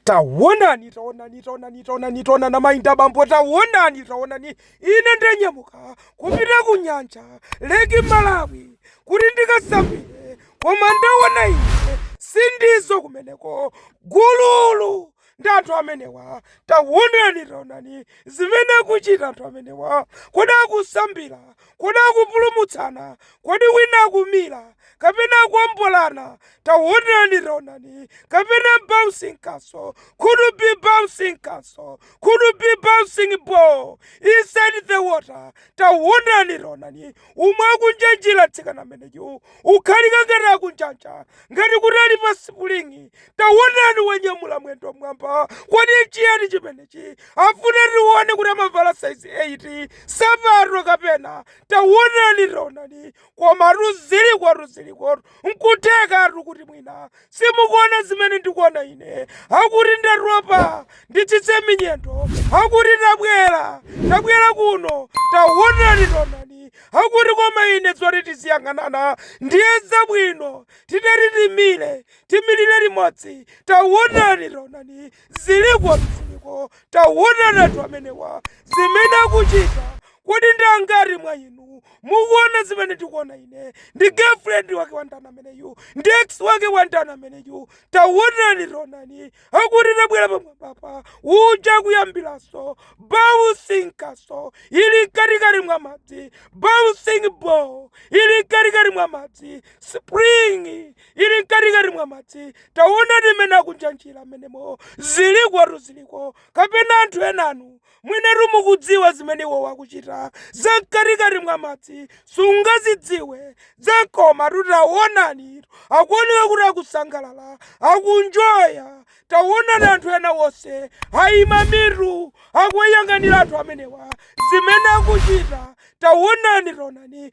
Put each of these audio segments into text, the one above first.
tawonani tawonani tawonani tawonani tawonani amayi ndi abambo tawonani tawonani ine ndanyamuka kupita ku nyanja leki malawi kuti ndikasambire koma ndawona ine si ndizo kumeneko gululu ndi anthu amenewa tawonani tawonani zimene akuchita anthu amenewa kodi akusambira Kodi akupulumutsana? Kodi wina akumira, kapena akuombolana? Taonani, taonani, kapena bouncing castle, could be bouncing castle, could be bouncing ball inside the water. Taonani, taonani, umo akunjanjira mtsikana ameneyu. ukhalika ngati akunjanja ngati kuti ali pa sipuling'i tawonani wanyamula mwendo mmwamba kodi nchiyani chimenechi afuna tione kuti amavala saizi 8 sapato kapena tawonani taonani komatu zilikotu zilikotu nkuthekatu kuti mwina simukuona zimene ndikuona ine akuti ndatopa nditsitse minyendo akuti tabwera tabwera kuno taonani taonani akuti koma ine zoti tiziyang'anana ndiye zabwino titati timire timirire limodzi taonani taonani Zilikotu ziliko tawonani anthu amenewa zimene akuchita kodi ndi angati mwa inu mukuona zimene ndikuona ine ndi girlfriend wake wa ndani ameneyu ndi ex wake wa ndani ameneyu tawonani tawonani akuti tabwera pamwambapa uja kuyambiranso bouncing castle ili mkatikati mwa madzi bouncing ball ili mkatikati mwa madzi spring ili mkatikati mwa madzi taonani mmene akunjanjira mmenemo zilikotu ziliko kapena anthu enanu mwinatu mukudziwa zimene iwowo akuchita za mkatikati mwa madzi sungazidziwe zakomatu taonani akuoneka kuti akusangalala akunjoya taonani anthu ena wonse ayima mitu akuyang'anira anthu amenewa zimene akuchita taonani taonani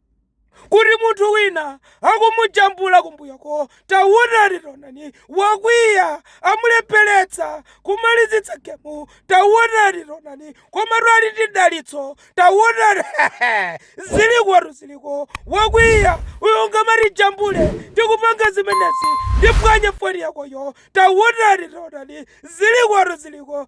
kuti munthu wina akumujambula kumbuyoko taonani taonani wakwiya amulepheretsa kumalizitsa gemu taonani taonani komatu ali ndi dalitso taonani zilikotu ziliko wakwiya uyo ungamatijambule tikupanga zimenezi ndipwanye foni yakoyo taonani taonani zilikotu ziliko